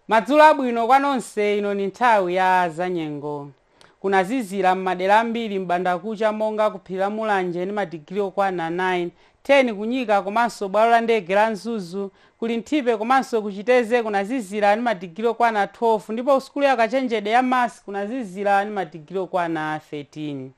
madzulo abwino kwa nonse ino ni nthawi ya zanyengo kunazizira m'madera ambiri m'bandakucha monga ku phiri la mulanje ndi madigiri okwana 9 10 kunyika komanso bwalo la ndege la mzuzu ku linthipe komanso kuchitedze kunazizira ndi madigiri okwana 12 ndipo kusukulu ya kachenjede ya must kunazizira ndi madigiri okwana 13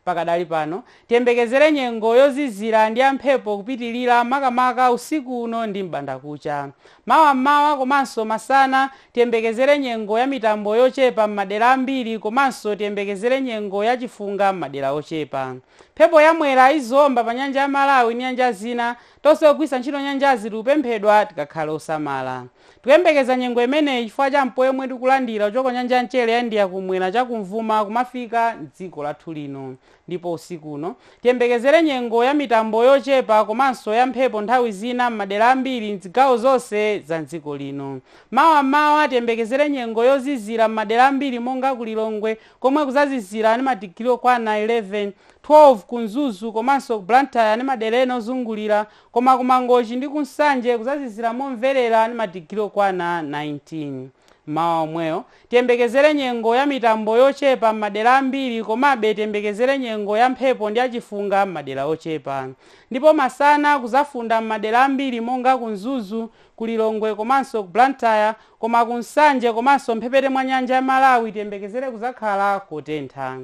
Pakadali pano, tiyembekezere nyengo yozizira ndi ya mphepo kupitilira makamaka usiku uno ndi m'bandakucha. Mawa m'mawa komanso masana, tiyembekezere nyengo ya mitambo yochepa m'madera ambiri komanso tiyembekezere nyengo ya chifunga m'madera ochepa. Mphepo ya Mwera izaomba pa Nyanja ya Malawi ndi nyanja zina. Tonse ogwiritsa ntchito nyanjazi tikupemphedwa tikakhale osamala. Tikuyembekeza nyengo imeneyi chifukwa cha mpweya omwe tikulandira kuchoka ku Nyanja ya Mchere ya India kum'mwera cha kumvuma kumafika m'dziko lathu lino. Ndipo usiku uno, tiyembekezere nyengo ya mitambo yochepa komanso ya mphepo nthawi zina m'madera ambiri m'zigawo zonse za m'dziko lino. Mawa m'mawa, tiyembekezere nyengo yozizira m'madera ambiri monga ku Lilongwe komwe kuzazizira ndi madigiri okwana 11, 12 ku Mzuzu komanso ku Blantyre ndi madera ena ozungulira Koma ku Mangochi ndi ku Nsanje kudzazizira momverera ndi madigiri okwana 19. Mmawa womwewo, tiyembekezere nyengo ya mitambo yochepa m'madera ambiri komabe tiyembekezere nyengo ya mphepo ndi ya chifunga m'madera ochepa. Ndipo masana kudzafunda m'madera ambiri monga ku Mzuzu, ku Lilongwe komanso ku Blantyre koma ku Nsanje komanso m'mphepete mwa nyanja ya Malawi tiyembekezere kudzakhala kotentha.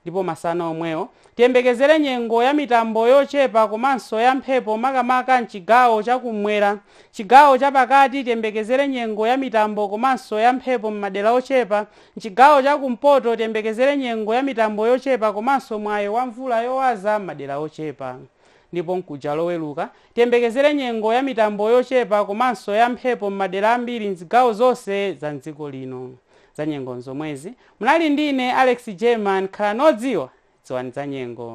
Ndipo masana omwewo, tiyembekezere nyengo ya mitambo yochepa komanso ya mphepo makamaka m'chigawo cha kummwera. Chigawo cha pakati tiyembekezere nyengo ya mitambo komanso ya mphepo m'madera ochepa. M'chigawo cha kumpoto tiyembekezere nyengo ya mitambo yochepa komanso mwayi wa mvula yowaza m'madera ochepa. Ndipo mkuja Loweruka, tiyembekezere nyengo ya mitambo yochepa komanso ya mphepo m'madera ambiri m'zigawo zonse za m'dziko lino. Zanyengo n'zomwezi. Munali ndi ine Alex Jerman, khalani odziwa, dziwani zanyengo.